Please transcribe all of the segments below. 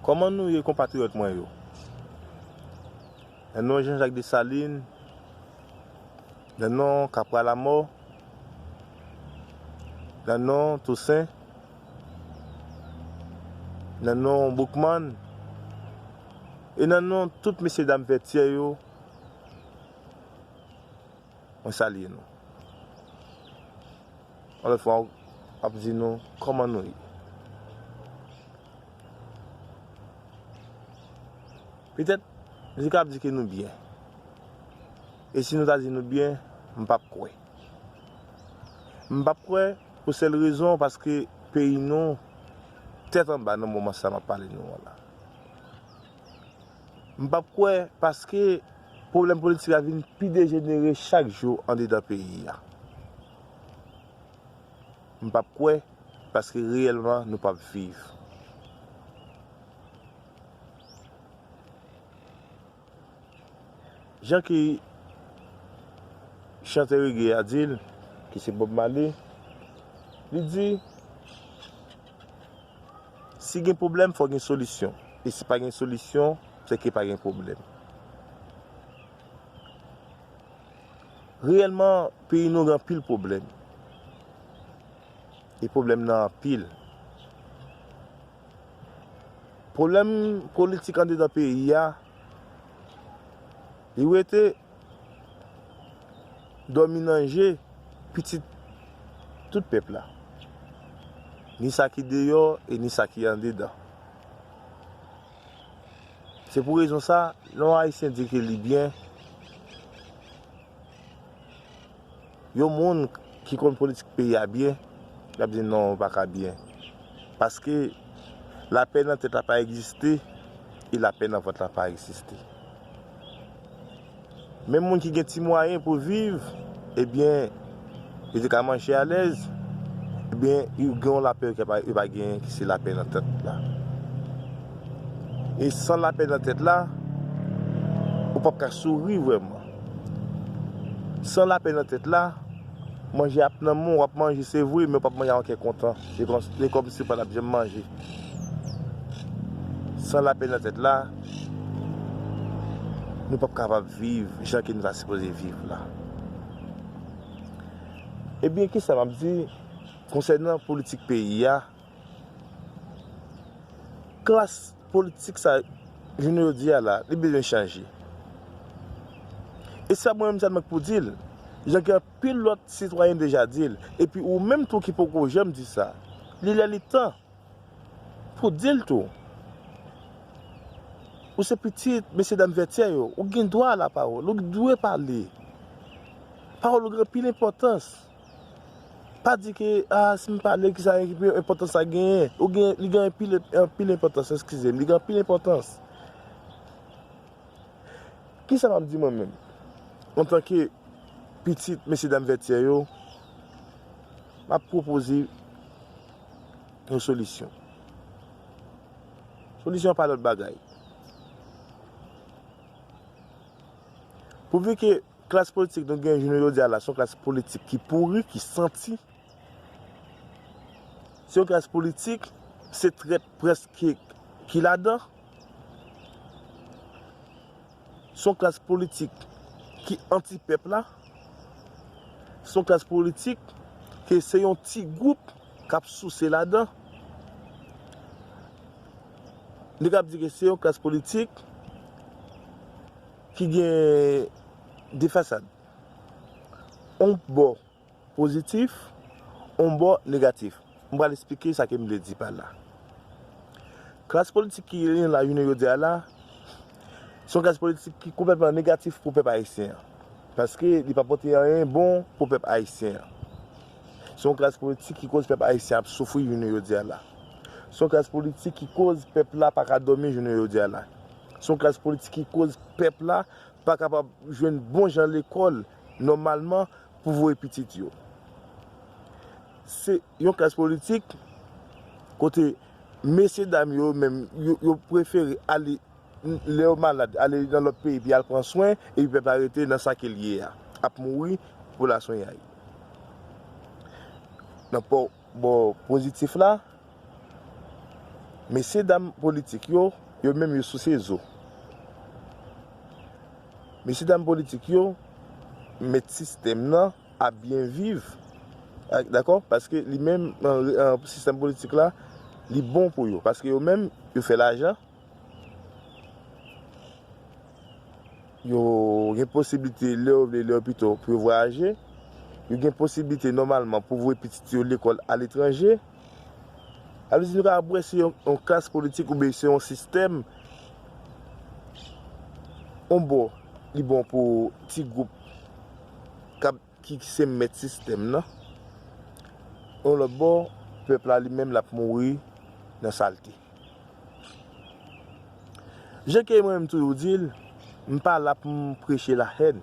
Kòman nou ye konpatriyòt mwen yo? Nan non Jean-Jacques Dessalines, nan non Capra Lamò, nan non Toussaint, nan non Boukman, e nan non tout mesye dam Vètyè yo, Mwen salye nou. Yon lòt fwa ap di nou kòman nou ye. Petèt nou kab di ke nou byen. E si nou ta di nou byen, m pap kwè. M pap kwè pou sèl rezon paske peyi nou tèt anba nan moman sa map pale nou an la. M pap kwè paske pwoblèm politik la vin pi dejenere chak jou andedan peyi a. M pap kwè paske reyèlman nou pap viv. Jan ki chantè rege a di l, ki se Bob Marley, li di. Si gen pwoblèm, fò gen solisyon. E si pa gen solisyon, se ke pa gen pwoblèm. Reyèlman, peyi nou gen anpil pwoblèm. E pwoblèm nan anpil. Pwoblèm politik andedan peyi a, li wete. Dòmi nan je pitit tout pèp la, ni sa ki deyò e ni sa ki andedan. Se pou rezon sa, lè yon Ayisyen di ke li byen, Yon moun ki konn politik peyi a byen, l ap di non yo pa ka byen. Paske lapè nan tèt la pa egziste e lapè nan vant la pa egziste. Menm moun ki gen ti mwayen pou viv, ebyen yo te ka manje alèz, ebyen yo gen yon lapè yo pa genyen ki se lapè nan tèt la. E san lapè nan tèt la, ou p ap ka souri vrèman. San lapè nan tèt la, manje ap nan men w, w ap manje se vre men w pap manje avèk kè kontan, se kòmsi w pa tap janm manje. San lapè nan tèt la, nou pap kapab viv jan ke nou ta sipoze viv la. Ebyen kisa m ap di konsènan politik peyi a? Klas politik sa jounen jodi a la, li bezwen chanje. E sa mwen menm sa mwen k pou di l, jan gen anpil lòt sitwayen deja di l, epi ou menm tou ki poko janm di sa, li lè li tan pou di l tou. Ou se pitit mesye dam Vètyè yo, ou gen dwa a la pawòl, ou dwe pale. Pawòl ou gen anpil enpòtans. Pa di ke ah si m pale ki sa ki enpòtans sa genyen. Ou genyen, li genyen anpil, anpil enpòtans, eskize m. Li gen anpil enpòtans. Ki sa m ap di mwen menm? Antanke pitit mesye dam Vètyè yo, m ap pwopoze yon solisyon. Solisyon an pa lòt bagay. Pouvi ke Klas politik nou gen jounen jodi a la se yon klas politik ki pouri, ki santi. Se yon klas politik, se trèt prèske ki ladan. Se yon klas politik ki anti pèp la. Se yon klas politik ke se yon ti gwoup k ap souse ladan. Nou kab di ke se yon klas politik. ki gen de fasad, yon bò pozitif, yon bò negatif. M pral esplike sa ke m vle di pa la. Klas politik ki genyen la jounen jodi a la, se yon klas politik ki konplètman negatif pou pèp ayisyen an. Paske li pa pote anyen bon pou pèp ayisyen an. Se yon klas politik ki koz pèp ayisyen ap soufri jounen jodi a la. Se yon klas politik ki koz pèp la pa ka dòmi jounen jodi a la. Se yon klas politik ki koz pèp la pa kapab jwenn bon jan lekòl nòmalman pou voye pitit yo. Se yon klas politik kote mesye dam yo menm yo prefere ale lè yo malad ale nan lòt peyi pou y al pran swen epi pèp la rete nan sa ke l ye a ap mouri pou laswenyay. Bò pozitif la, mesye dam politik yo, yo menm yo souse zo. Mesye dam politik yo mèt sistèm nan ap byen viv, dakò, paske li menm sistèm politik la li bon pou yo, paske yo menm yo fè lajan. Yo gen posiblite lè yo vle, lè yo pito pou yo vwayaje. Yo gen posiblite nòmalman pou voye pitit yo lekòl aletranje. A vle di nou ka ap wè se yon klas politik oubyen se yon sistèm. On bò, li bon pou ti gwoup k ap. ki se mèt sistèm nan, yon lòt bò, pèp la li menm l ap mouri nan salte. Jan ke mwen menm toujou di l, m pa la pou m preche lahèn.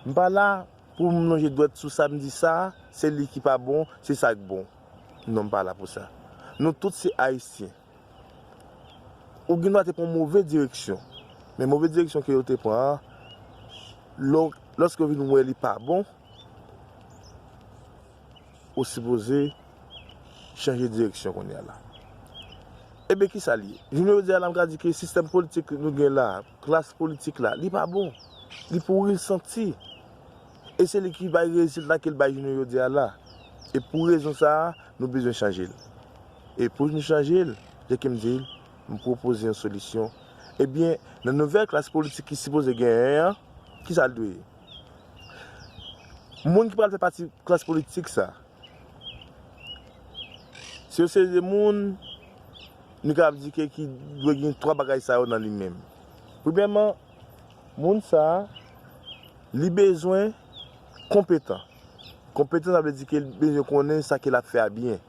M pa la pou m lonje dwèt sou sa m di sa, se li ki pa bon, se sa k bon. Non m pa la pou sa. Nou tout se Ayisyen. Ou gen dwa te pran yon move direksyon. Men move direksyon ke yo te pran an, lòske yo vin wè li pa bon, ou sipoze chanje direksyon kounye a la. Ebe ki sa li ye? Jounen jodi a la m ka di ke sistèm politik nou gen la, klas politik la, li pa bon. Li pouri, li santi. E se li ki bay rezilta ke l bay jounen jodi a la. E pou rezon sa a, nou bezwen chanje l. E pou nou chanje l, jan ke m di l, m pwopoze yon solisyon. Ebyen, nan nouvèl klas politik ki sipoze genyen an, ki sa l dwe ye? Moun ki pral fè pati klas politik sa, se yon seri de moun, nou kapab di ke ki dwe gen twa bagay sa yo nan li menm. Premyèman, Moun sa Li bezwen konpetan. Konpetan sa vle di ke li bezwen konnen sa ke lap fè a byen.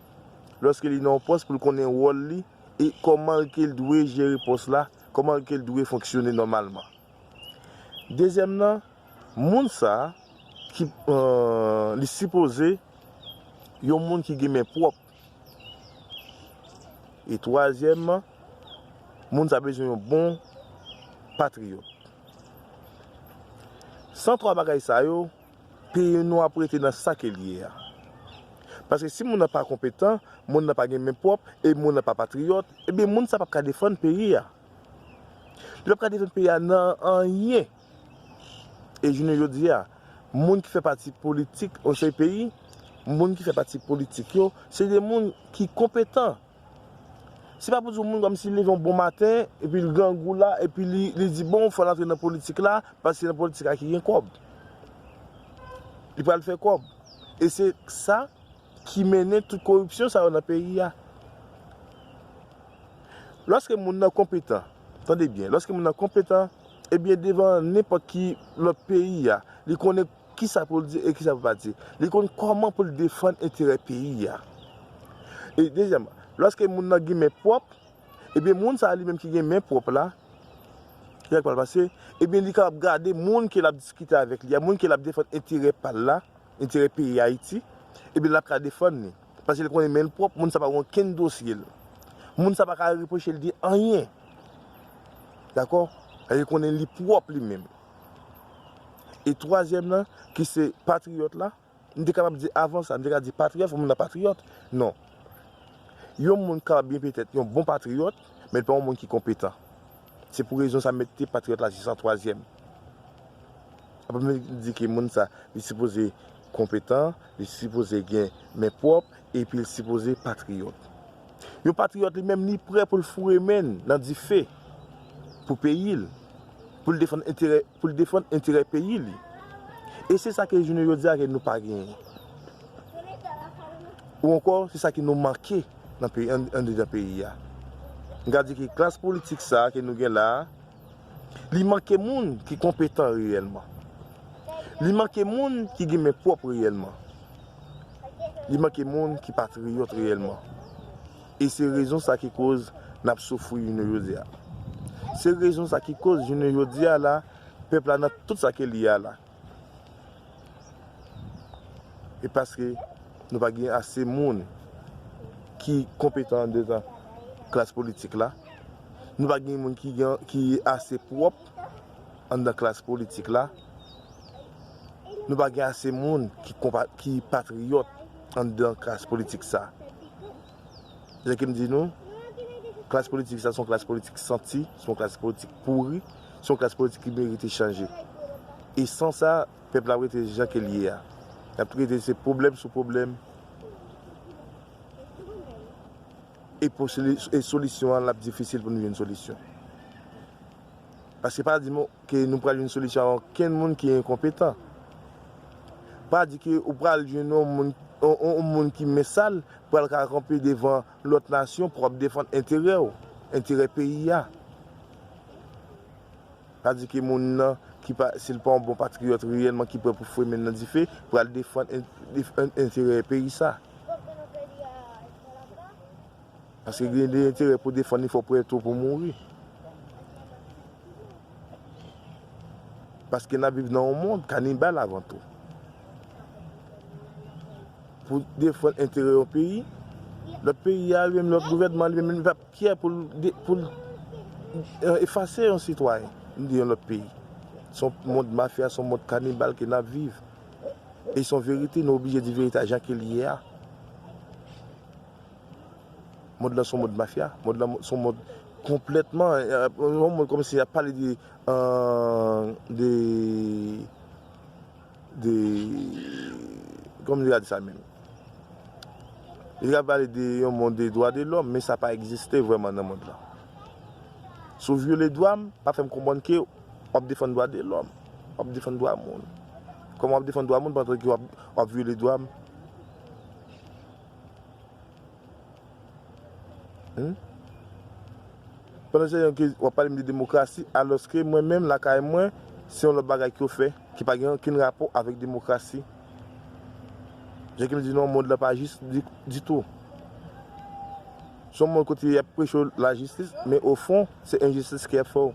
Lòske li nan yon pòs pou l konnen wòl li e kòman l ke l dwe jere pòs la, kòman l ke l dwe fonksyone nòmalman. Dezyèm nan, moun sa ki li sipoze yon moun ki gen men pwòp. E twazyèmman, moun sa bezwen yon bon patriyòt. San twa bagay sa yo, peyi nou ap rete nan sa ke l ye a. Paske si moun nan pa konpetan, moun nan pa gen men pwòp, e moun nan pa patriyòt, ebyen moun sa p ap ka defann peyi a. Li p ap ka defann peyi a nan anyen. E jounen jodi a, moun ki fè pati politik yon seri peyi, moun ki fè pati politik yo, se de moun ki konpetan. Se pa pou di yon moun kòmsi li leve yon bon maten, epi li grangou la, epi li di bon, fò l antre nan politik la, paske se nan politik la ki gen kòb. Li pral fè kòb. E se sa. ki mennen tout koripsyon sa yo nan peyi a. Lòske moun nan konpetan, tande byen, lòske moun nan konpetan, ebyen devan nenpòt ki lòt peyi a, li konnen ki sa pou l di e ki sa pou l pa di. Li konn kòman pou l defann enterè peyi a. E dezyèman, lòske moun nan gen men pwòp, ebyen moun sa a li menm ki gen men pwòp la, ki ak pa l pase, ebyen li kapab gade moun ke l ap diskite avèk li a, moun ke l ap defann enterè pa l la, enterè peyi Ayiti, ebyen lap ka defann li. Paske li konnen men l pwòp, moun sa pa gen okenn dosye l. Moun sa pa ka repwoche l de anyen. Dakò? Paske li konnen li pwòp li menm. E twazyèm lan, ki se patriyòt la, m te kapab di avan sa, m te ka di patriyòt fò moun nan patriyòt. Non. Yon moun kapab byen petèt yon bon patriyòt, men l pa yon moun ki konpetan. Se pou rezon sa m mete patriyòt la jis an twazyèm. Apa m vin di ke moun sa, li sipoze konpetan, li sipoze gen men pwòp, epi l sipoze patriyòt. Yon patriyòt li menm, li prè pou l foure men l nan dife pou peyi l, pou l defann enterè Pou l defann enterè peyi li. E se sa ke jounen jodi a ke nou pa genyen. Ou ankò se sa ke nou manke andedan peyi a. M ka di ke klas politik sa ke nou gen la a, li manke moun ki konpetan reyèlman. Li manke moun ki gen men pwòp reyèlman. Li manke moun ki patriyòt reyèlman. E se rezon sa ki koz nap soufri jounen jodi a. Se rezon sa ki koz jounen jodi a la, pèp la nan tout sa ke li ye a la. E paske nou pa gen ase moun ki konpetan andedan klas politik la, nou pa gen moun ki ase pwòp andedan klas politik la, nou pa gen ase moun ki patriyòt. Anndan klas politik sa. Se sa ke m di nou, klas politik sa se yon klas politik santi, se yon klas politik pouri, se yon klas politik ki merite chanje. E san sa, pèp la ap rete jan ke l ye a. L ap rete se pwoblèm sou pwoblèm e solisyon an l ap difisil pou nou jwenn solisyon. Paske pa di m. Ke nou pral jwenn solisyon a okenn moun ki enkonpetan. Pa di ke ou pral jwenn yon moun, yon moun ki men sal pral ka kanpe devan lòt nasyon pou ap defann enterè ou, enterè peyi a. Pa di ke moun nan ki pa, si l pa yon bon patriyòt reyèlman ki prè pou fwe men l nan dife, pral defann enterè peyi sa. Paske gen de enterè pou defann li fò w prè tou pou mouri. Paske n ap viv nan yon mond kanibal avan tou. Pou w defann enterè yon peyi, lòt peyi a li menm, lòt gouvènman li menm li pa fyè pou l efase yon sitwayen de yon lòt peyi. Se yon mond mafya, se yon mond kanibal ke n ap viv. E se yon verite, nou oblije di verite a jan ke l ye a. Mond lan son mond mafya, mond lan son mond konplètman, yon mond kòmsi yap pale de de de kòman nou ta di sa menm? Yo ap pale de yon mond de dwa de lòm men sa pa egziste vrèman nan mond lan. Si w vyole dwa m, pa fè m konprann ke wap defann dwa de lòm, wap defann dwa moun. Kòman wap defann dwa moun pandan ke wap vyole dwa m? Pandan Jean Yankees wap pale m de demokrasi alòske mwen menm lakay mwen se yon lòt bagay ke yo fè ki pa gen okenn rapò avèk demokrasi. Jean Kim di non mond lan pa jis ditou. Se yon mond kote yap preche w lajistis men ofon se enjistis ke yap fè w.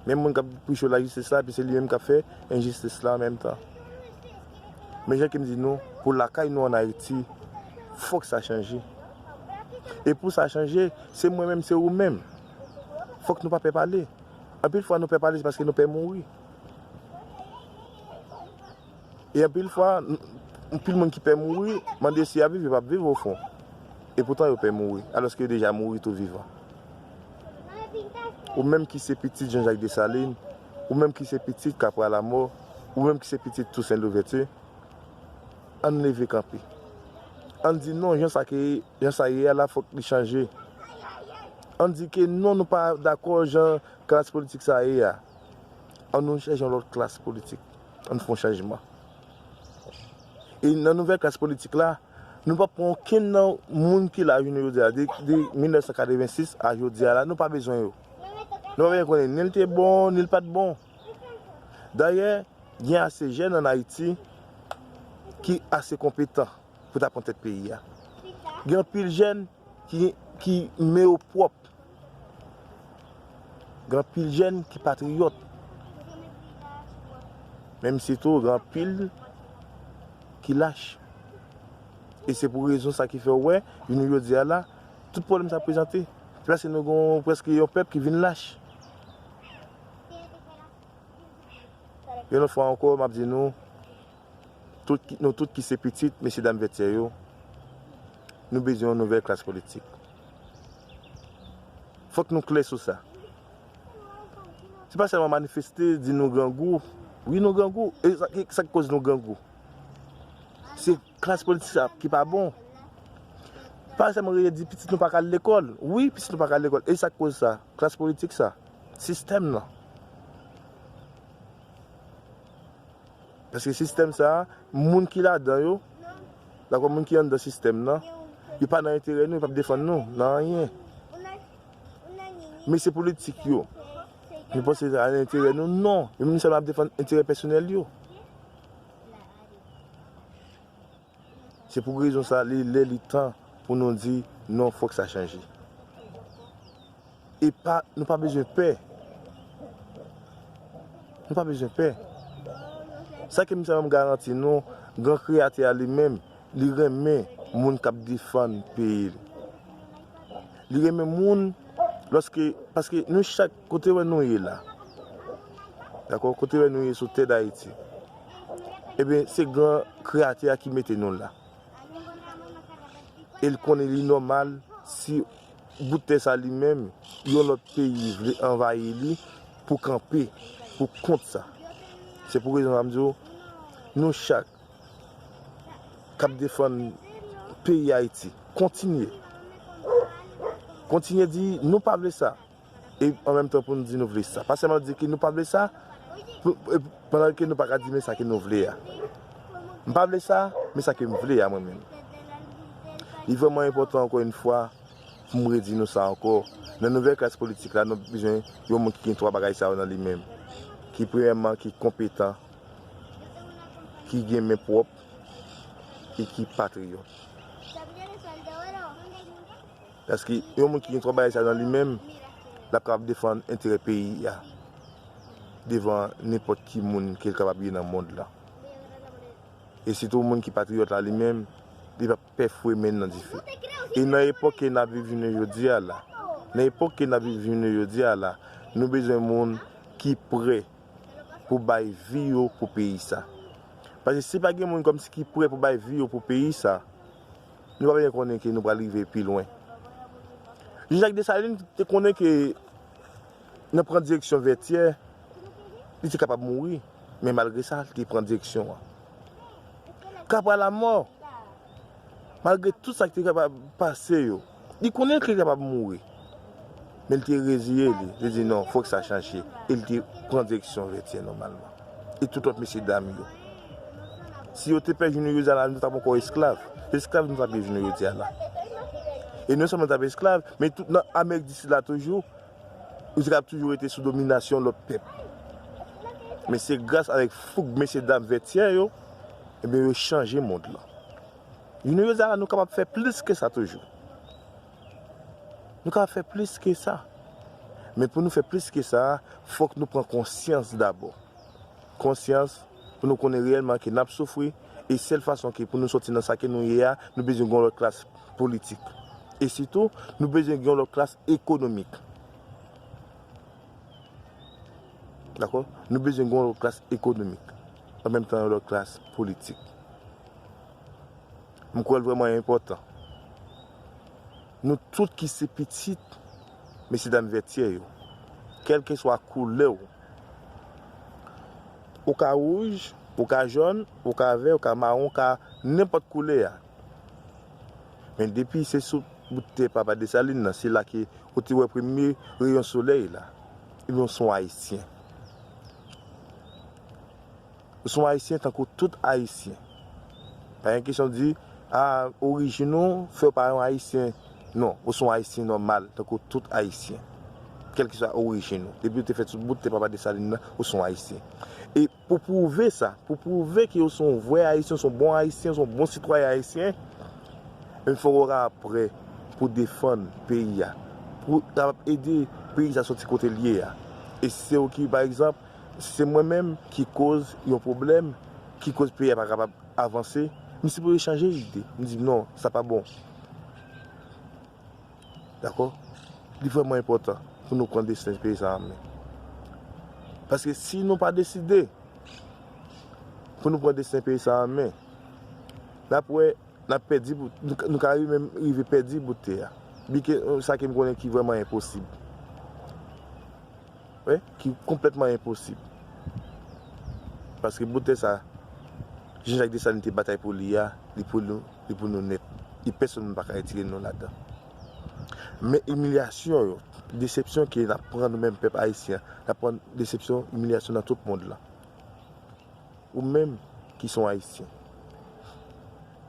Menm moun k ap preche lajistis la epi se li menm k ap fè enjistis la an menm tan. Men jan ke m di nou, pou lakay nou an Ayiti, fòk sa chanje. E pou sa chanje, se mwen menm, se ou menm. Fòk nou pa pè pale. Anpil fwa nou pè pale se paske nou pè mouri. E anpil fwa, anpil moun ki pè mouri, mande si y ap viv, yo p ap viv ofon. E poutan yo pè mouri, alòske yo deja mouri tou vivan. Ou menm ki se pitit Jan Jak Desalin, ou menm ki se pitit Kapra Lamò, ou menm ki se pitit Tousen Louvèti, an n leve kanpe. An n di non, jan sa ke, jan sa ye a la fòk li chanje. An n di ke non nou pa dakò jan klas politik sa ye a. An nou chèche yon lòt klas politik. Ann fon chanjman. E nan nouvèl klas politik la, nou pap pran okenn nan moun ki la jounen jodi a, de 1986 a jodi a la, nou pa bezwen yo. Nou pa bezwen konnen ni l te bon, ni l pat bon. Dayè, gen ase jèn ann Ayiti ki ase konpetan pou ta pran tèt peyi a. Gen anpil jèn. ki men yo pwòp. Gen anpil jèn ki patriyòt. Menm si tou gen anpil ki lach. E se pou rezon sa ki fè ou wè, jounen jodi a la, tout pwoblèm sa prezante. Se paske nou gen prèske yon pèp ki vin lach. Yon lòt fwa ankò, m ap di nou. Tout, nou tout ki se pitit mesyedam Vètyè yo, nou bezwen yon nouvèl klas politik. Fòk nou klè sou sa. Se pa sèlman manifeste, di nou grangou. Wi nou grangou. E sa ki koz nou grangou? Se klas politik sa ki pa bon. Pa sèlman rele di pitit nou pa ka al lekòl. Wi pitit nou pa ka al lekòl. E sa ki koz sa? Klas politik sa. Sistèm nan. Paske sistèm sa a, moun ki ladan yo, dakò moun ki anndan sistèm nan, yo pa nan enterè nou, yo p ap defann nou nan anyen. Mesye politik yo, nou panse se nan enterè nou? Non! Yo menm sèlman ap defann enterè pèsonèl yo. Se pou rezon sa li lè li tan pou nou di non fòk sa chanje. E pa nou pa bezwen pè. Nou pa bezwen pè. Sa ke m sa m garanti nou gran kreyatè a li menm li renmen moun kap defann peyi l. Li renmen moun lòske paske nou chak Kote wè nou ye la. Dakò kote wè nou ye sou tè dayiti. Ebyen se gran kreyatè a ki mete nou la. El konnen li nòmal si bout tè sa li menm yon lòt peyi vle anvayi li pou kanpe pou kont sa. Se pou rezon sa m di w nou chak kap defann peyi ayiti kontinye kontinye di nou pa vle sa. e an menm tan pou nou di nou vle sa. Pa sèlman di ke nou pa vle sa, pandan ke nou pa ka di men sa ke nou vle a. M pa vle sa, men sa ke m vle a mwen menm. Li vrèman enpòtan ankò yon fwa pou m redi nou sa ankò, nan nouvèl klas politik la nou bezwen yon moun ki gen 3 bagay sa yo nan li menm. Ki premyèman ki konpetan, ki gen men pwòp e ki patriyòt. Paske yon moun ki gen twò bagay sa yo nan li menm, l ap kapab defann enterè peyi a devan nenpòt ki moun ke l kapab ye nan mond lan. E sitou moun ki patriyòt la li menm, li p ap pè fouye men l nan dife. E nan epòk ke n ap viv jounen jodi a la, nan epòk ke n ap viv jounen jodi a la, nou bezwen moun ki prè pou bay vi yo pou peyi sa. Paske si pa gen moun kòmsi ki prè pou bay vi yo pou peyi sa, Nou pa byen konnen ke nou pral rive pi lwen. Jan Jak Desalin te konnen ke nan pran direksyon Vètyè, li te kapab mouri, men malgre sa, li te pran direksyon an. Kapwa Lamò, malgre tout sa ki te kapab pase yo, Li konnen ke li kapab mouri, men li te reziye li, li di non, fòk sa chanje, e li te pran direksyon Vètyè nòmalman. E tout lòt mesye dam yo. Si yo te pè jou nou jodi a la, nou t ap ankò esklav. Esklav nou t ap ye jounen jodi a la. E non sèlman nou t ap esklav, men tout nan Amerik di Sid la toujou, nou te kapab toujou rete sou dominasyon lòt pèp. Men se gras avèk foug mesye dam Vètyè yo, ebyen yo chanje mond lan. Jounen jodi a la nou kapab fè plis ke sa toujou. Nou kapab fè plis ke sa. Men pou nou fè plis ke sa, fòk nou pran konsyans dabò. Konsyans pou nou konnen reyèlman ke n ap soufri e sèl fason ke pou nou sòti nan sa ke nou ye a, nou bezwen gen yon lòt klas politik. E sitou, nou bezwen gen yon lòt klas ekonomik. Dakò? Nou bezwen gen yon lòt klas ekonomik. an menm tan yon lòt klas politik. M kwè l vrèman enpòtan nou tout ki se pitit mesyedam Vètyè yo, kèlkeswa koulè w, ou ka wouj, ou ka jòn, ou ka vè, ou ka mawon, ou ka nenpòt koulè a, men depi se sou bout tè papa Desalin nan, se la ke ou te wè premye reyon solèy la, ebyen ou se yon Ayisyen. Ou son ayisyen tankou tout ayisyen. Pa gen kesyon di ah orijin ou fèw pa yon ayisyen non ou son ayisyen nòmal tankou tout ayisyen kèlkeswa orijin ou depiw te fèt sou bout tè papa Desalin nan ou son ayisyen e pou pwouve sa pou pwouve ke ou son vrè ayisyen ou son bon ayisyen ou son bon sitwayen ayisyen ebyen fòk ou ka prè pou defann peyi a pou kapab ede peyi sa sòti kotel ye a e sew ki pa egzanp Se mwen menm ki koz yon pwoblèm ki koz peyi a pa kapab avanse, m sipoze chanje lide, m di non sa pa bon. Dakò? Li vrèman enpòtan pou nou pran desten peyi sa an men. Paske si nou pa deside pou nou pran desten peyi sa an men, n ap wè n ap pèdi pou, nou ka menm rive pèdi bout tè a. Byenke sa ke m konnen ki vrèman enposib. Wi, ki konplètman enposib. Paske boutèy sa Jan Jak Desalin te batay pou li a, li pou nou, li pou nou nèt. E pèsonn moun pa ka retire nou ladan. Men imilyasyon yo, desepsyon ke nap pran nou menm pèp ayisyen an, nap pran desepsyon, imilyasyon nan tout mond lan. Ou menm ki son ayisyen,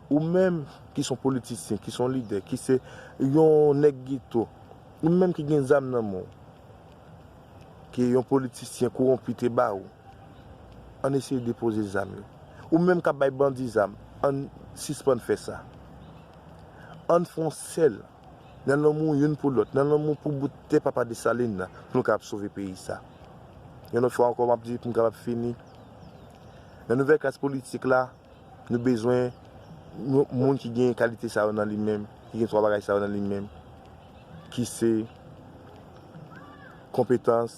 ou menm ki son politisyen, ki son lidè, ki se yon nèg geto, ou menm ki gen zam nan men w, ke yon politisyen kowonpi te ba ou, ann eseye depoze zam yo. Ou menm k ap bay bandi zam, ann sispann fè sa. Ann fè yon sèl, nan lanmou youn pou lòt, nan lanmou pou bout tè Papa Desalin nan, pou nou kapab sove peyi sa. Yon lòt fwa ankò, m ap di pou m kapab fini, nan nouvèl klas politik la, Nou bezwen yon moun ki gen kalite sa yo nan li menm, ki gen 3 bagay sa yo nan li menm, ki se konpetans,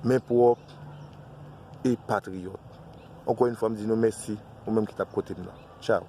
men pwòp, e patriyòt. Ankò yon fwa m di nou mèsi, ou menm ki t ap koute m nan. Tchaw!